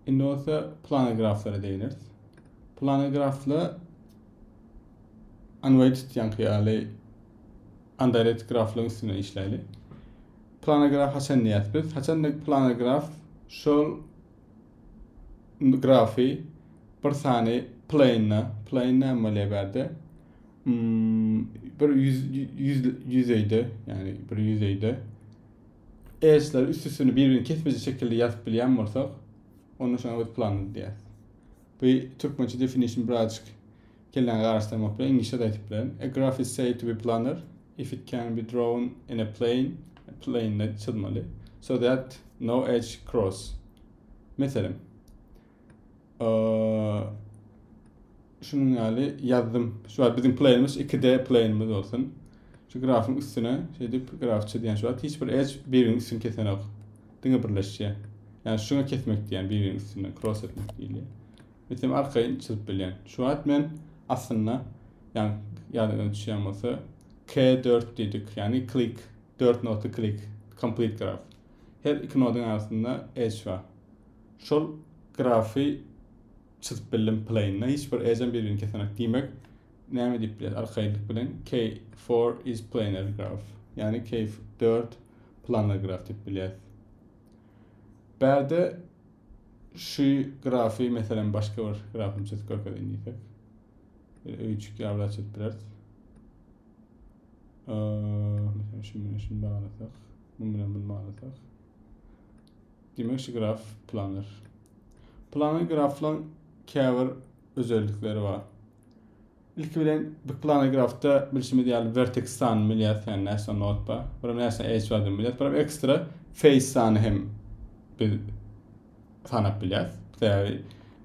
Indi bolsa plana graflara değineris. Plana grafla unweighted yankı ýaly undirected graflaryň üstüne işläli. Plana graf haçan diýýäs biz? Haçan da plana graf şol grafy bir sany plane, plane näme bolýar bärde? Hmm, bir yüz, yüz, yüzeyde, yani bir yüzeyde Ersleri üst-üstüni bir-birini kesmejek şekilde ýazyp bilýän bolsak, onda şoňa biz planned diýýäris. Bu türkmençe definition birazajyk kelläňi garaşdyrmak bilen iňlisçe-de aýdyp bilerin. A graph is said to be planar if it can be drawn in a plane, plane-de çyzmaly, so that no edge cross. Meselem, Şunuň ýaly ýazdym. Şu wagt biziň plaýerimiz 2D plaýerimiz bolsun. Şu grafyň üstüne şeýdip graf çizýän şu wagt hiç bir edge biriniň üstüni kesenok. Diňe birleşýär. Ýani şuňa kesmek diýýän biriniň üstüne cross etmek diýilýär. Meselem arkaýyn çyzyp bilýän. Şu wagt men aslynda ýani ýadyňyza düşýän bolsa K4 diýdik. Ýani click 4 notly click complete graf. Her iki nodyň arasynda edge bar. Şol grafy çyzyp bildim plain'da. Hiç bir ejem bir-birini kesenek. Diýmek, näme diýip bileris arkaýynlyk bilen? K4 is planar graf. Ýagny K4 planar graf diýip bilýäs. Bärde şu grafy meselem başga bir grafyny çyzyp görkezin diýsek. Öýçük ýaly çyzyp bileris. Ee, meselem şunu bilen şunu baglasak, muny bilen bunu baglasak. Diýmek şu graf planner. Planner graflaryň käbir özellikleri bar. Ilki bilen bir planner grafda bilşimiz ýaly vertex sanyny bilýäs, ýa näçe not bar, bir näçe edge bar diýip bilýäs, bir ekstra face sanyny hem biz sanap bilýäs. Sebäbi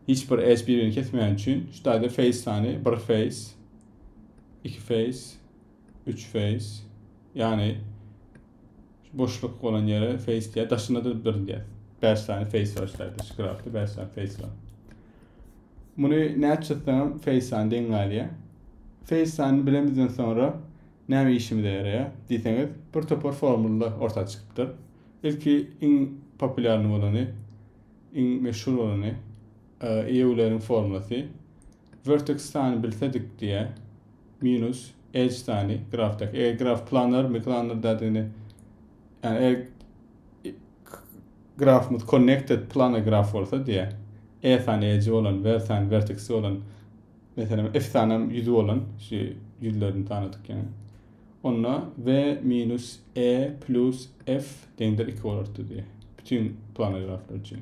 hiç bir edge bir-birini kesmeýän üçin şu taýda face sany bir face, iki face, üç face, ýagny Şu boşluk bolan ýere face diýýär. Daşynda da bir diýýär. Bäş sany face bar şeýle. Skrapda bäş sany face bar. Muny näçe çyzsaňam face sany deň galýar. Face sanyny bilemizden soňra näme işimize ýaraýar diýseňiz, bir topar formula orta çykypdyr. Ilki iň populýarny bolany, iň meşhur bolany, EULER-iň formulasy. Vertex sany bilsedik diýýä. Minus Edge sany grafdaky. Eger graf planar mi planar dädigini ýa e grafymyz connected planar graf bolsa diýýä. E sany edge bolan, ver sany vertex bolan meselem f sany hem ýüzi bolan şu ýüzlerini sanadyk ýa. Onda v minus e plus f deňdir 2 bolardy diýýä. Bütün planar graflar üçin.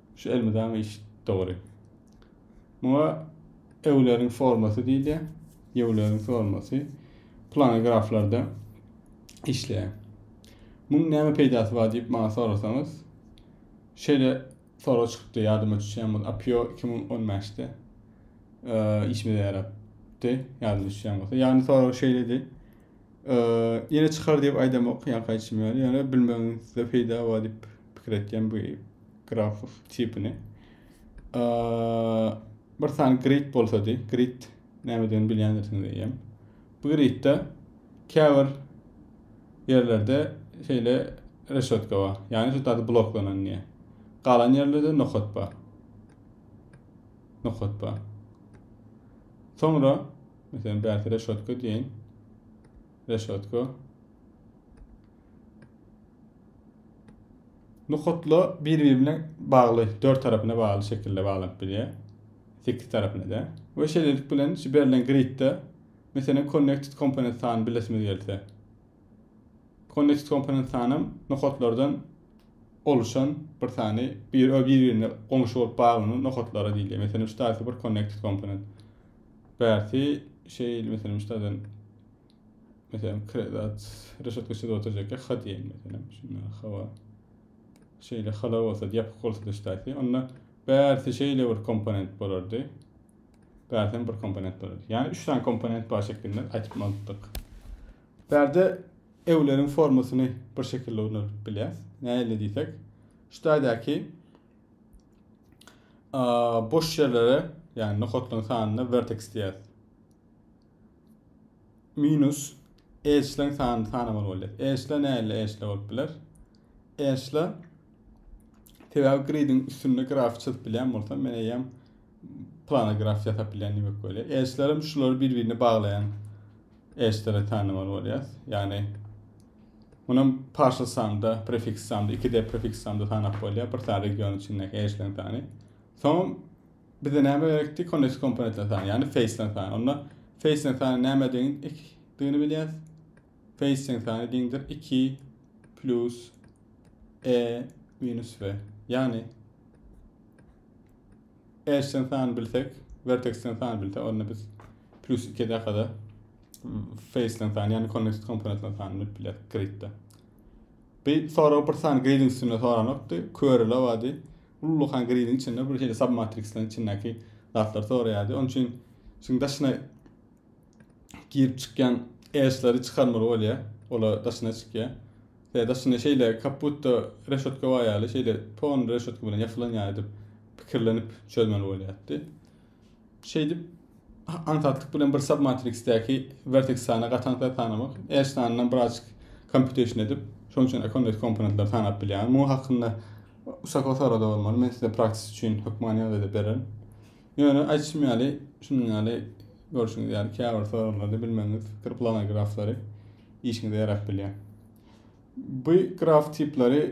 Şu elmydama iş dogry. Muňa Ewleriň formasy diýilýär. Ýewleriň formasy plan graflarda işleýär. Muň näme peýdasy bar diýip maňa sorasaňyz, şeýle sorag çykypdy ýadyma düşýän bolsa, APIO 2015-de e, işimize ýarapdy, ýadyma düşýän bolsa. Ýagny sorag şeýledi. Ýene çykar diýip aýdamok, ýa gaýçym ýaly. Ýöne bilmegiňizde peýda bar diýip pikir etýän bu grafow tipini. Bir sany grid bolsa diý, grid nämeden bilýändirsiňiz diýýän. Bu gridde käbir ýerlerde şeýle reşotka bar. Ýani şu taýda bloklanan diýýär. Galan ýerlerde nokat bar. Nokat bar. Soňra Meselem bärki reşotka diýeýin. Reşotka. Nokatla bir-biri bilen bagly, dört tarapyna bagly şekilde baglanyp bilýär. Sekiz tarapyna da. We şeýlelik bilen şu berlen gridde meselem connected component sany bilesimiz gelse. Connected component sanam nokatlardan oluşan bir sany bir bir-birine goňşy bolup baglanan nokatlary diýilýär. Meselem şu taýsy bir connected component. Bärsi şeýl meselem ştadan meselem kredat reşetka ştada oturjak ya ha diýen meselem şunda hawa şeýle hala bolsa ýapyk bolsa da ştaýsi onda bärsi şeýle bir komponent bolardy bärsen bir komponent bolardy ýani üç tane komponent bar şeklinde aýtyp bolupdyk bärde ewleriň formasyny bir şekilde ulanıp bilýäs näle diýsek ştaýdaky boş ýerlere ýagny nokatlaryň sanyna vertex diýýär. Minus edge-leň sanyny sanamaly bolýar. Edge-ler nähili edge-ler bolup biler? Edge-ler sebäbi gridin üstünde graf çyzyp bilýän bolsam, men eýýäm Planograf ýasap bilýän diýmek bolýar. Elçiler hem şulary bir-birine baglaýan elçilere tanamaly bolýar. Ýagny Munam partial sanda, prefiks sanda, 2D prefiks sanda tanap bolýar. Bir sany region içindäki elçileriň sany. Soň bize näme gerekdi? Connect komponentler sany, ýagny face-ler sany. Onda face-ler sany näme deň? Dini bilýär. Face-ler sany deňdir 2 plus e minus v. Ýagny Edge-den sany bilsek, Vertex-den sany bilsek, onda biz plus 2 dakada Face-den sany, ýagny Connected Component-den sany bilip bileris grid-de. Bi sorag bir sany grid-iň üstünde soranokdy, körele bady. Ullukan grid-iň içinde bir şeýle submatrix-leriň içindäki zatlar soraýardy. Onuň üçin şuň daşyna girip çykýan äşleri çykarmaly bolýar. Ola daşyna çykýar. Tä daşyna şeýle kaputda reşotka bar ýaly, şeýle ton reşotka bilen ýapylan ýaly edip pikirlenip çözmeli bolýardy. Şeýdip aňsatlyk bilen bir submatriksdäki vertex sany gatan sany tanamak, äş sanyndan biraz computation edip, şoň üçin accomodate komponentleri tanap bilýär. Muňa hakynda Usako sorada bolmaly. Men size praktis üçin hökmany ýagdaýda bererin. Ýöne aýtşym ýaly, şunuň ýaly görşüňiz ýaly käbir soraglary bilmegiňiz pikir plana graflary işiňize ýarap bilýär. Bu graf tipleri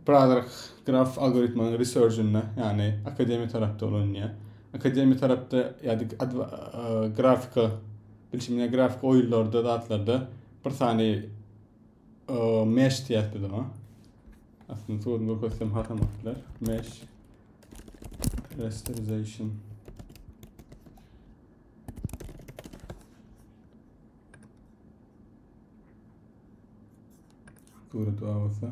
Brother graf algoritmanyň researchinde, ýagny akademiýa tarapda ulanýar. Akademiýa tarapda ýa-da grafika, bilşimine grafik oýunlarda, zatlarda bir sany mesh diýýäs biz oňa. Aslynda suratda görkezsem hatam atlar. Mesh rasterization. Surat awasa.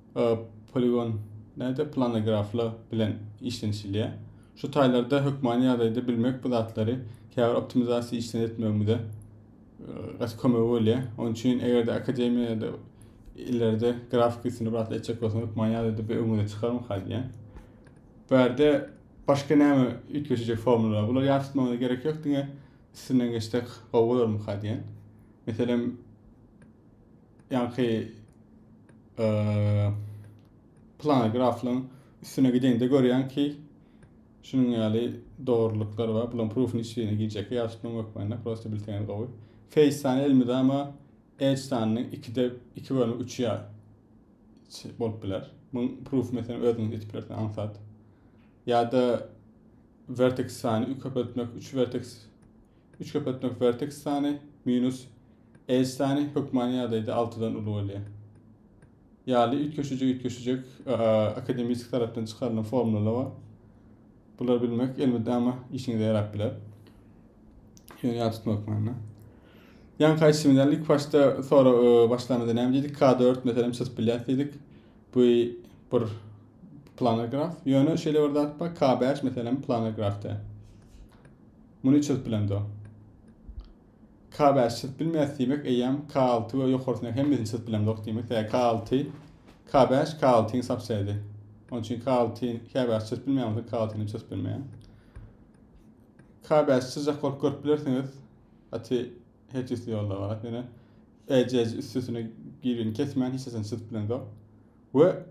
poligon, näde, planograflar bilen işlenişilýär. Şu taýlarda hökmany ýagdaýda bilmek bu zatlary käbir optimizasiýa işlerini etmegimize gaty kömegi bolýar. Onuň üçin eger-de akademiýada ileride grafik üstüni bir etjek bolsaň, hökmany ýagdaýda bir öňüňe çykarmak halýar. Bu ýerde başga näme üýtgeşijek formulalar? Bular ýat tutmagyna gerek ýok, diňe üstünden geçsek gowy bolarmyka diýen. Meselem, ýaňky plan graflaryň üstüne gideňde görýän ki, şunuň ýaly dogrulyklary bar. Bulan proofun içine girjek ýa şunuň hökmände prosta bilseňiz gowy. Face sany elmydama edge sanynyň 2-de 2 bölümi 3 ýa bolup biler. Muň proof meselem özüňiz etip bilersiň aňsat. Ýa-da vertex sany köpeltmek 3 vertex Üçkepetniň werteks sany minus edge sany hökmany ýagdaýda altydan uly bolýar. Ýaly üýtgeşiji üýtgeşijek akademisk tarapdan çykarylan formulalar bar. Bular bilmek elmydama ama işiňize ýarap biler. Ýöne ýat tutmak manyna. Ýan kaýsymyz ýaly ilk başda sonra başlamada näme diýdik? K4 meselem çyzyp bilýäs diýdik. Bu bir planar graf. Ýöne şeýle bir zat bar. K5 meselem planar grafda. Muny çözüp bilemdo? K bäşi çözüp bilmeýäs diýmek eýýäm K alty we ýokarysyny hemmesini çözüp bilemzok diýmek däl. K alty, K bäş, K altyň subsedi. Onuň üçin K alty, K bäşi çözüp bilmeýän bolsa K altyny çözüp bilmeýän. K bäşi çözjek bolup görüp bilersiňiz. Ati her türlü ýolda bar. Ýöne EC üstesine girini kesmän hiç nesini çözüp bilemzok. We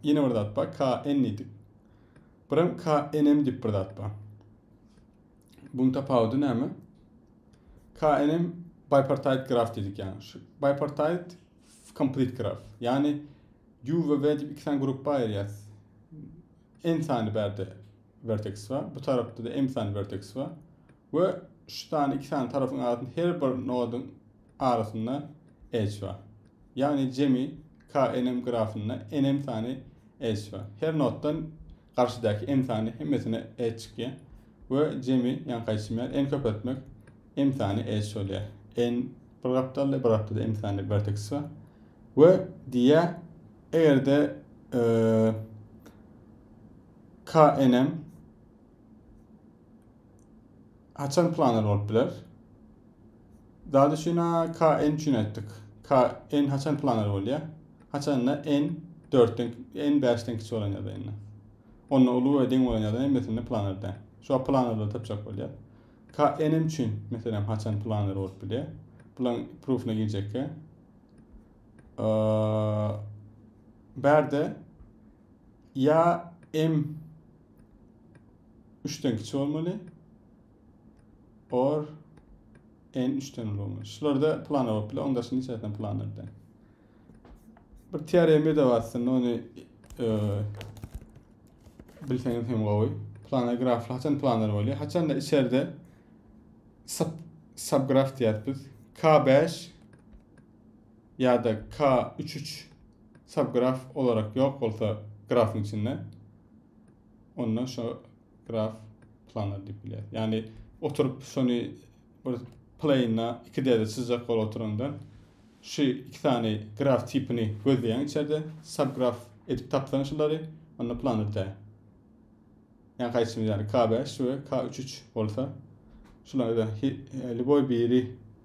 ýene bir zat bar. K n diýdik. Birem KNM diýip bir zat bar. Buň tapawudy näme? KNM bipartite graf diýdik ýaňy. Şu bipartite complete graf. Ýagny U we V diýip iki sany gruppa aýyrýas. N sany bärde vertex bar. Bu tarapda da M sany vertex bar. We şu sany iki sany tarapyň arasynda her bir nodyň arasynda edge bar. Ýagny jemi KNM grafynda NM sany edge bar. Her notdan garşydaky M sany hemmesine edge çykýar we jemi ýaňy gaýtymýar. N köpeltmek M sany edge bolýar. N bir gapdalda, bir gapdalda M sany vertex bar. We diýýär, egerde e, KNM haçan planar bolup biler? Zadyşyna KN üçin aýtdyk. KN haçan planar bolýar? Haçanda N 4-den, N 5-den kiçi bolan ýagdaýy indi. Onda uly we deň bolan ýagdaýy meselende planar däl. Şo planarda tapjak bolýar. KN üçin meselem haçan planar bolup bilýär? Bulan proofuna girjekkä. Bärde ýa M 3-den kiçi bolmaly. or n üçden uly şularda plana bolup bilen onda şunun içerisinde plan edi bir teoremi de var aslında onu e, bilseniz hem gowy plana grafla haçan planlar bolýar haçan da içeride sub subgraf diýýäris biz k5 ya da k33 subgraf olarak yok olsa grafın içinde onda şo graf planar diýip bilýär. Ýani oturyp şony bir plane'da iki derje çyzjak bolup oturanda şu iki sany graf tipini gözleýän içerde subgraf edip tapsaň şulary onda planar dä. Ýani haýsyny ýani K5 we K33 bolsa şularda e, lüboý biri